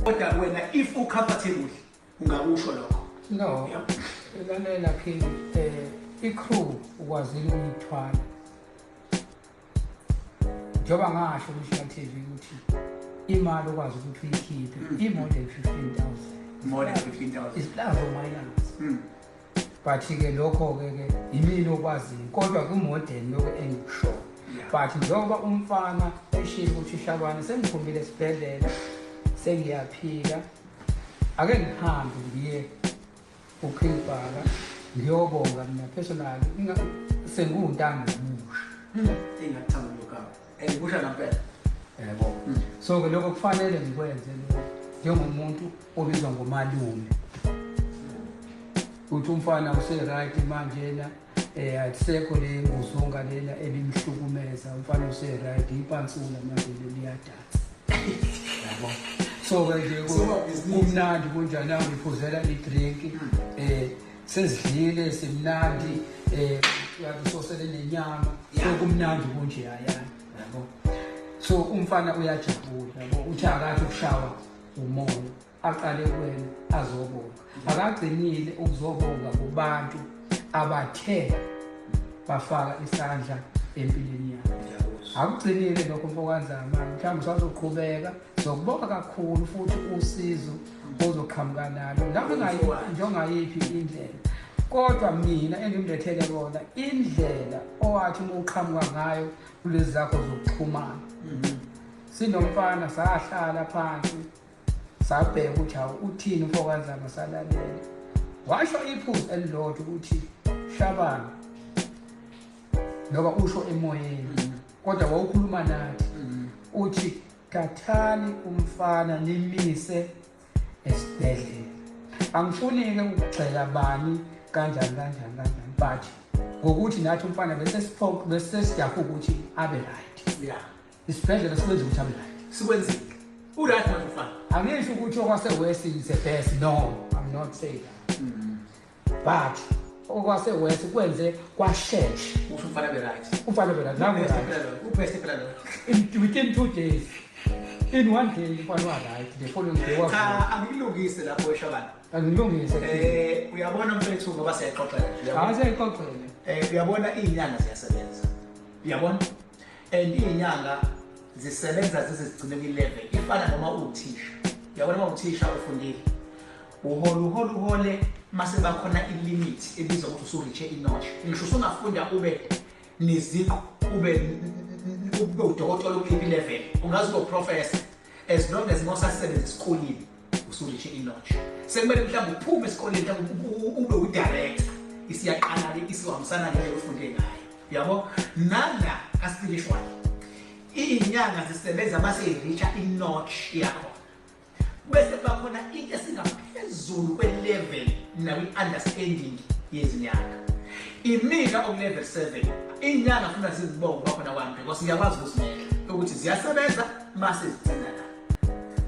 kodwa wena if u comfortable ungakusho lokho no lalela phini eh i-crew ukwazile ukuyithwala njengoba ngasho kushina TV ukuthi imali okwazi ukuthi uyikhiphe mm. i-more than 15000 more than 15000 isiplazo mayelana mm. but ke lokho ke ke yimini okwaziyo kodwa kumodern lokho engikusho but njengoba umfana eshilo ukuthi shabane sengiphumile esibhedlela sengiyaphila ake ngihambe ngiye ukhilibhaka ngiyobonga mina personally sengiwuntanga omusha hmm, Kusho ngempela. Yebo. Hmm. So ke lokho kufanele ngikwenze njengomuntu obizwa ngomalume. Uthi umfana useright manje yena eh akusekho le nguzunga lena ebimhlukumeza umfana useright ipansula manje liyadatha. Yebo. So ke nje kumnandi kunjani angiphuzela i-drink hmm. eh sezidlile simnandi eh uyathi sosele nenyama sokumnandi kunje yaya yabo so umfana uyajabula yabo uthi akathi ukushawa umoya aqale kuwena azobonga akagcinile ukuzobonga kubantu abathe bafaka isandla empilweni yakhe akugcinile lokho mfokanzama mhlawumbe sazoqhubeka zokubonga kakhulu futhi usizo ozoqhamuka nalo noma njengayiphi indlela kodwa mina engimlethele kona indlela owathi uma uqhamuka ngayo kulezi zakho zokuxhumana mhm. sinomfana sahlala phansi sabheka ukuthi hawu uthini umfokanzana salalela washo iphuzu elilodwa ukuthi shabana loba usho emoyeni mhm. kodwa wawukhuluma nathi mhm. uthi thathani umfana nimise esibhedlela angifuni-ke ukugxeka bani kanjani kanjani kanjani but ngokuthi nathi umfana bese siphoqe bese sijaha ukuthi abe right yeah isibhedlela sikwenza ukuthi abe right sikwenzile uright manje mfana angisho ukuthi okwasewest is the best no i'm not saying that mm. but okwase west kwenze kwashesha usho umfana be right umfana be right nangu right ubest phela lo within 2 days in one day umfana wa right the following day wa cha angilungise lapho esho abantu angilungise eh uyabona mfethu ngoba siyaxoxela uyabona siyaxoxela eh uyabona izinyanga ziyasebenza uyabona and izinyanga zisebenza zizigcine kwi level ifana noma uthisha uyabona uma uthisha ufundile uhole uhole uhole mase bakhona ilimit ebizwa ukuthi usuritshe inotch ngisho usungafunda ube neziqu ube ube udokotela ukuphi level ungazi ube professor as long as mosasebenza esikoleni usuritshe inotch sekumele mhlawumbe uphume esikoleni ube udirector isiyaqala ke isiwahambisana ngendlela ofunde ngayo yabo nanga kaspiritual iyinyanga zisebenza mase iritsha inotch yakho bese kuba khona into esingaphezulu kwe-level nakwi-understanding yezinyanga imina okulevel seven iy'nyanga funa zizibonge uba khona kwami because ngiyakwazi ukuzinela ukuthi ziyasebenza uma sezigcina la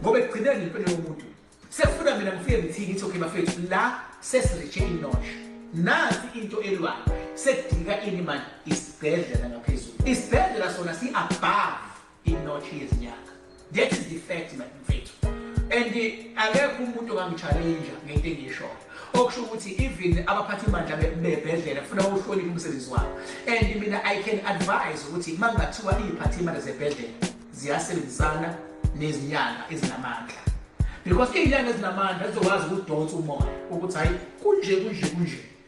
ngoba ekugcineni impilo yomuntu sekufuna mina ngifike ngithini ngithi okay bafethu la sesiritshe inosha nansi into elwayo sekudika ini manje isibhedlela ngaphezulu isibhedlela sona si-above inotshi yezinyanga that is the fact man mfethu and akekho umuntu ongangichallenge ngento engiyishoyo okusho ukuthi even abaphathi bandla bebhedlela kufuna uhloniphe umsebenzi wabo and mina i can advise ukuthi uma kungathiwa iy'phathi imandla zebhedlela ziyasebenzisana nezinyanga ezinamandla because iy'nyanga ezinamandla zizokwazi ukudonsa umoya ukuthi hhayi kunje kunje kunje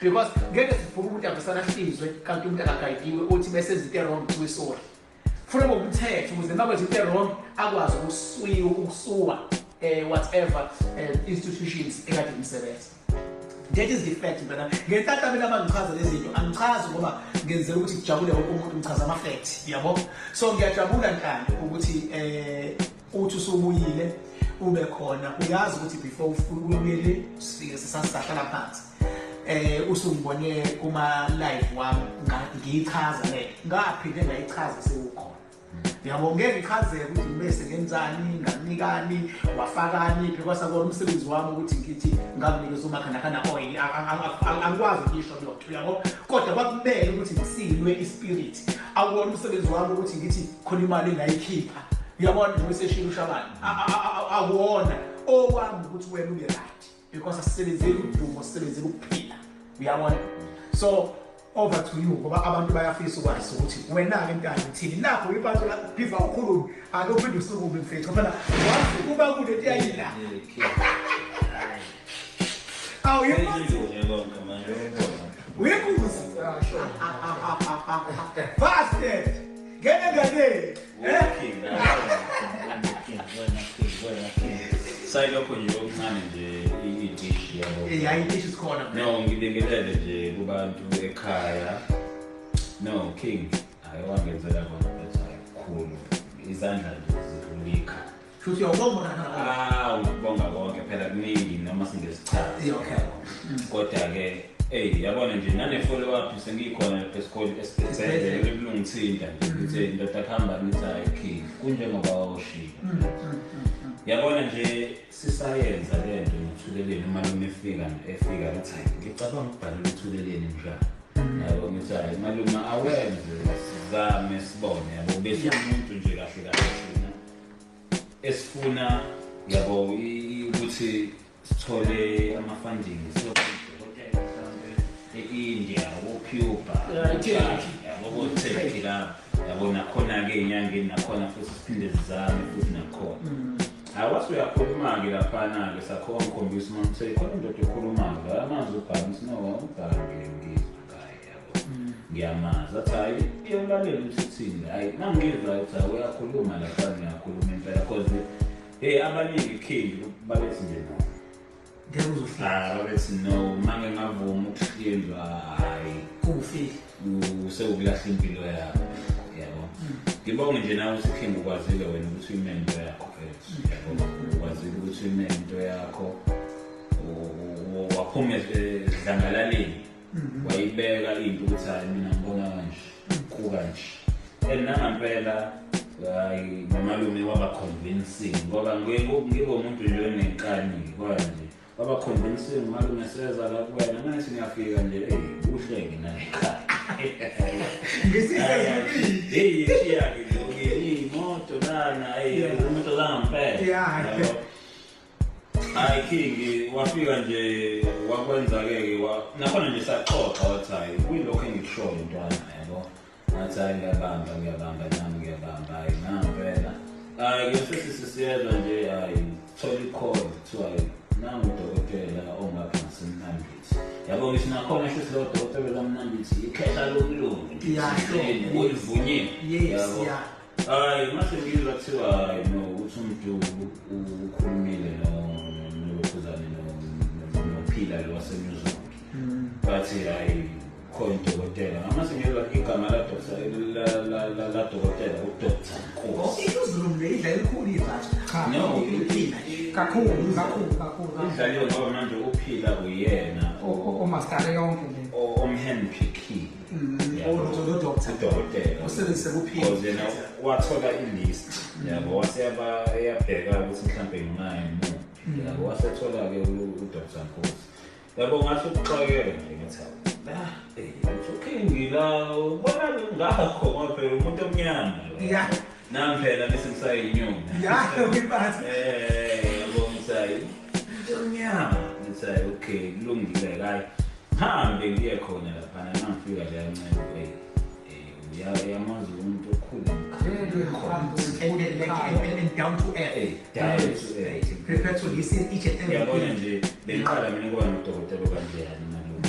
because ngeke sivuke umuntu avesana hlizwe kanti umuntu akagayidiwe uthi bese izinto erong kuwe sorry funa ngokumthetha ukuze uma kwenza into erong akwazi ukuswiwa ukusuwa um whatever um institutions ekade imsebenza that is the fact mntana ngentatha mina bangichaza lezi zinto angichazi ngoba ngenzela ukuthi kujabule wonke umuntu ngichaza ama-fact yabo so ngiyajabula ntando ukuthi um uthi usubuyile ube khona uyazi ukuthi before ubuyele sifike sisasihlala phansi eh usungibone kuma live wami ngiyichaza le ngaphinde ngayichaza sewukhona yabo ngeke ngichazeke ukuthi ngibese ngenzani ngakunikani wafakani phi kwasakona umsebenzi wami ukuthi ngithi ngakunikeza umakhanakhana oil angikwazi ukuyisho lotho yabo kodwa kwakumele ukuthi ngisilwe ispirit awuwona umsebenzi wami ukuthi ngithi khona imali engayikhipha uyabona njengoba eseshilo ushabani akuwona okwami ukuthi wena ube right because asisebenzeli udumo sisebenzela ukuphila uyabona so over to you ngoba abantu bayafisa ukwazi ukuthi wena-ke mntana uthini nakho uyibantu bhiva ukhulume ake uphinde usukume mfethu phela wazi kuba kule nto yayila awuyimbuzi uyimbuzi ah, ah, ah, fast ngene nganeni sayilokho nje okuncane nje idishi yabo Eh, hayi idishi sikhona bro. no ngibingelele nje kubantu ekhaya no king ayewangenzela kona bethi ayikhulu izandla nje zilumika Futhi uyawubonga uNana Bonga. Ah, ukubonga konke phela kuningi noma singesichazi. Yeah, okay. Kodwa ke Ey yabona nje nane follow up sengikhona lapha esikoleni esibhedlela kulungithinta nje ukuthi indoda kuhamba nithi ayikhiye kunjengoba washilo. Mm, mm, mm, yabona nje sisayenza le nto nothuleleni uma noma efika efika ukuthi hayi ngicabanga ukubhala uthuleleni njalo. Yabo ngithi hayi malume awenze sizame sibone yabo bese umuntu nje kahle kahle. esifuna yabo ukuthi sithole ama-funding siyodokotela mhlawumbe e-india kocuba yabo koturkey lapho yabo nakhona-ke enyangeni nakhona futhi siphinde sizame futhi nakhona mm. hayi wase uyakhuluma-ke laphana-ke sakho wangikhombisa uma ngithe khona indoda ekhuluma-ke amazwi ubhangi sinowa ubhange ngizwa ngiyamazi athi hayi iyamlalela ukuthi uthini hayi mangizwa ukuthi hayi uyakhuluma lapha ngiyakhuluma impela cause hey abaningi ikhindi babethi nje no ngeke uzohlala babethi no mange ngavuma ukuhlindwa hayi kufi usewukulahla impilo yakho yabo hmm. ngibonge nje nawe ukuthi ikhindi ukwazile wena ukuthi uyimele into yakho fethu hmm. yabo ukwazile ukuthi uyimele into yakho waphuma edlangalaleni mhm. wayibeka into ukuthi hayi mina ngibona kanje kuka nje and nangampela hayi nomalume waba convincing ngoba ngibe umuntu nje onenkani kwaya nje waba convincing umalume seza la kuwena ngathi ngiyafika nje eyi kuhle ke naye ngisizekile shiyake nje imoto lana eyi umuntu zangampela Hayi King wafika nje wakwenza ke ke wa nakhona nje saxoxa wathi hayi kuyilokho engikushoyo ntwana yabo. Ngathi hayi ngiyabamba ngiyabamba nami ngiyabamba hayi nampela. Hayi ke sesisi siyezwa nje hayi thola i-call kuthiwa nangu udokotela ongapha ngasemnambithi. Yabo ngisho nakhona ngisho silowo dokotela lomnambithi ikhehla lokulunga. Iyahleni. Ulivunyiwe. Yes, yeah. Hayi mase ngizwa kuthiwa hayi no ukuthi umuntu ukhulumile no nokhuzane no nophila lo wasenyuzwa. Mm. Bathi hayi khona udokotela. Ngamase ngizwa igama la doctor la la la la dokotela u doctor. Oh, ikuzulu le idla elikhulu ivathi. Cha. No, uphila. Kakhulu, kakhulu, kakhulu. Idlaliwe ngoba manje uphila uyena. O o master yonke le. O omhandpick. udokotela usebenzise kuphila wathola i-list yabo wase yabheka ukuthi mhlawumbe nginayo muphi mm. yabo wasethola-ke udr nkosi yabo ngasho ukuxakela nje ngathi ah, eh, ukhingila ubona ngakho ngoba phela umuntu omnyama Nami phela bese ngisayinyoni. Yayo ngiphathi. Eh, yabo ngisayi. Nginyama. Ngisayi okay, kulungile kayi. Hambe ngiye khona lapha nangifika la ncane hey. Eh, ya yamazi umuntu okhulu. And down to earth. Hey, down to earth. Prepare to listen each and every. Yabona nje, bengiqala mina kuba nodokotela kanjani nalona.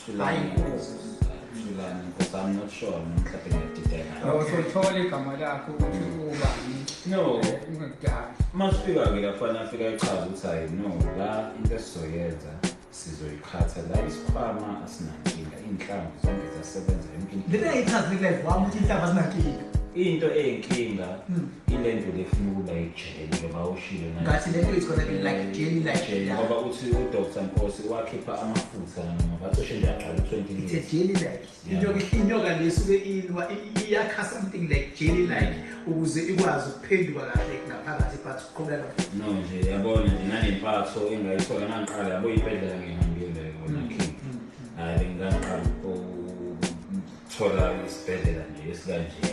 Thulani Nkosi. Thulani Nkosi. I'm not sure mhlawumbe ngiyadideka. Awusothole igama lakho ukuthi ubani. No. Ungakudala. Uma sifika ke la kufanele afike ayichaze ukuthi hayi no la into esizoyenza sizoyiqhatha la isikhwama asinankinga iy'nhlamvu zonke ziyasebenza yonke into. Lena ichaze live wami ukuthi inhlaba zinankinga. Into eyinkinga Hmm. ile nto le funa ukulayija. But the video is gonna be like daily like yeah. ngoba uthi udr nkosi wakhipha amafutha ngabacishe nje aqala u-20 it's a daily like inyoka inyoka lesuke ilwa iyakha something like daily like ukuze ikwazi ukuphenduka kahle ngaphakathi but uqhubeka no nje yabona nje nanempatho engayithola nangiqala yabo ibhedlela ngihambile kona mm, king mm, mm. hayi bengikangiqala ukuthola isibhedlela nje esikanje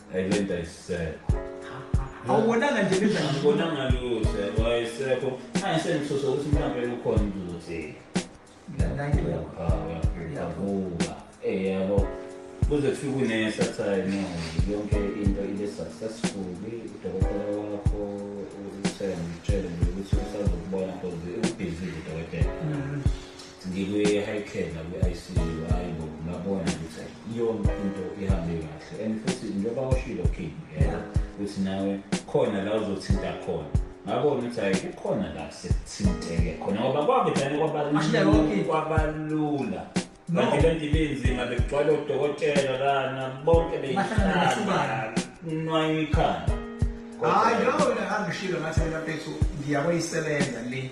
Hey, lento ayisekho. Awubonanga nje benza nje. Ngibonanga lutho, yebo ayisekho. Hayi sengisosa ukuthi mhlambe ukhona umuntu uzothini. Ngilandayile yakho. Yavuka. Eh yabo. Kuze kufike unesa time no. Yonke into ibe successful. Udokotela wakho uthembe utshele ukuthi usazokubona because ubhizi udokotela. ngikwi-high nakwi-icu hayi bo ngabona ukuthi iyona into ihambe kahle and futhi njengoba ushilo king yena ukuthi nawe khona la uzothinta khona ngabona ukuthi hayi kukhona la sekuthinteke khona ngoba kwakudlane kwabalula kanti le nto ibinzima bekugcwala odokotela lana bonke beyihlala nwayo ikhanda hayi yona angishilo ngathi mina mfethu ngiyakuyisebenza le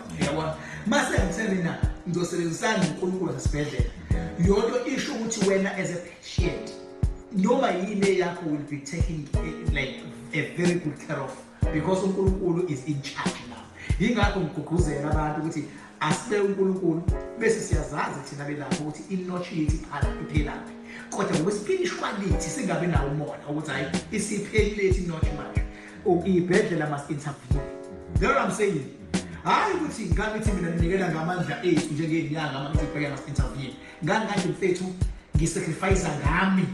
yabona mase ngitheni na ngizosebenzisana noNkulunkulu nasibhedlela yonto isho ukuthi wena as a patient noma yini eyakho will be taking eh, like a very good care of because uNkulunkulu is in charge now yingakho ngiguguzela abantu ukuthi asibe uNkulunkulu bese siyazazi thina belapho ukuthi inotshi yethu iqala iphelaphi kodwa ngokwesipilishwalithi singabi nawo umona ukuthi hayi isiphelile ithi notshi manje Ibhedlela must intervene. That's what I'm saying. Hayi ukuthi ngani ukuthi mina nginikela ngamandla ethu njengenyanga ama ukuthi ibhedlela must intervene. Ngani kanti mfethu ngisacrifice ngami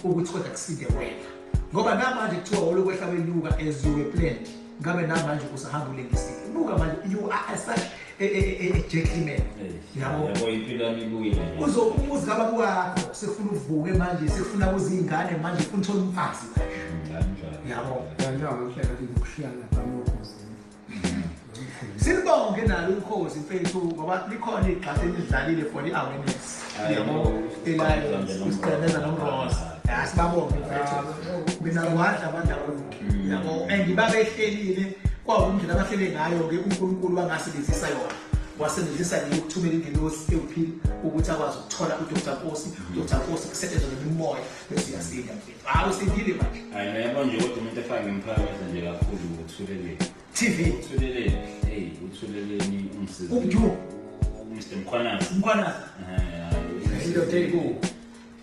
ukuthi kodwa kusinde wena. Ngoba namanje kuthiwa olokwehla kwenyuka as you were planned. Ngabe namanje usahamba ulengisile. Buka manje you are as such gentleman yabo uzoumuzi kababa wakho sekufuna uvuke manje sekufuna kuze iy'ngane manje funa uthole umfazi yabo silibonge nalo ukhozi mfethu ngoba likhona igxatha elidlalile for i-awareness yabo elayo usiqemeza nomrosa ya sibabonge mfethu mina ngiwadla abantu mm. yabo and babehlelile kwawumndlela abahlele ngayo-ke unkulunkulu wangasebenzisa yona wasebenzisa nje ukuthumela ingelosi ewuphile ukuthi akwazi ukuthola udr nkosi mm. udr nkosi kusetshenzwa nemimoya bese uyasinda mfethu hawu usindile manje hayi nayabo nje kodwa umuntu efake ngiphakamise nje kakhulu uthuleleni tv uthuleleni hey uthuleleni umsizi umdu mr mkhwanazi mkhwanazi eh, indoda eyiku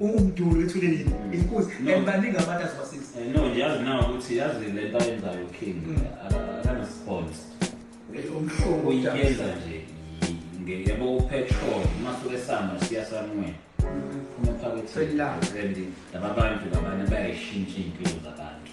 umduli wethule yini inkosi and baningi abantu azobasiza eh, no yazi na ukuthi yazi le nto ayenzayo king mm. akanesponse umhlobo uyenza nje yabo upetrol masuke samba siya sanwena mm. phuma phakathi and laba bantu labana bayayishintsha iy'mpilo zabantu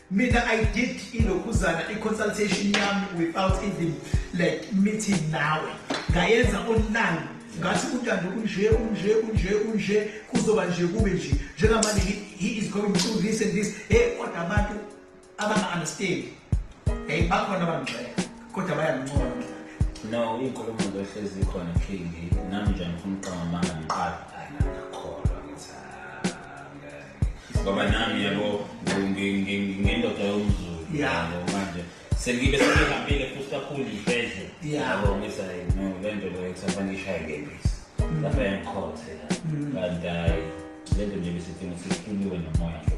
Mina I did ilokhuzana i-consultation yami without even like meeting nawe ngayenza online ngathi untando unje unje unje unje kuzoba nje kube nje njengamanje he is going through this and this hey kodwa abantu abanga-understand hey bakhona abangixela kodwa bayangincoma no inkulumo lohlezi ikhona king nami nje ngifuna uqamba amanga ngiqala ngoba nami yabo ngendoda yomzulu yabo manje sengibe sengihambile futhi kakhulu iy'bhedle yabo ngisa no le nto leyo kusafanele ngishaye ngebisi lapha yangikhothe kanti hayi le nto nje besidinga sihluliwe nomoya nje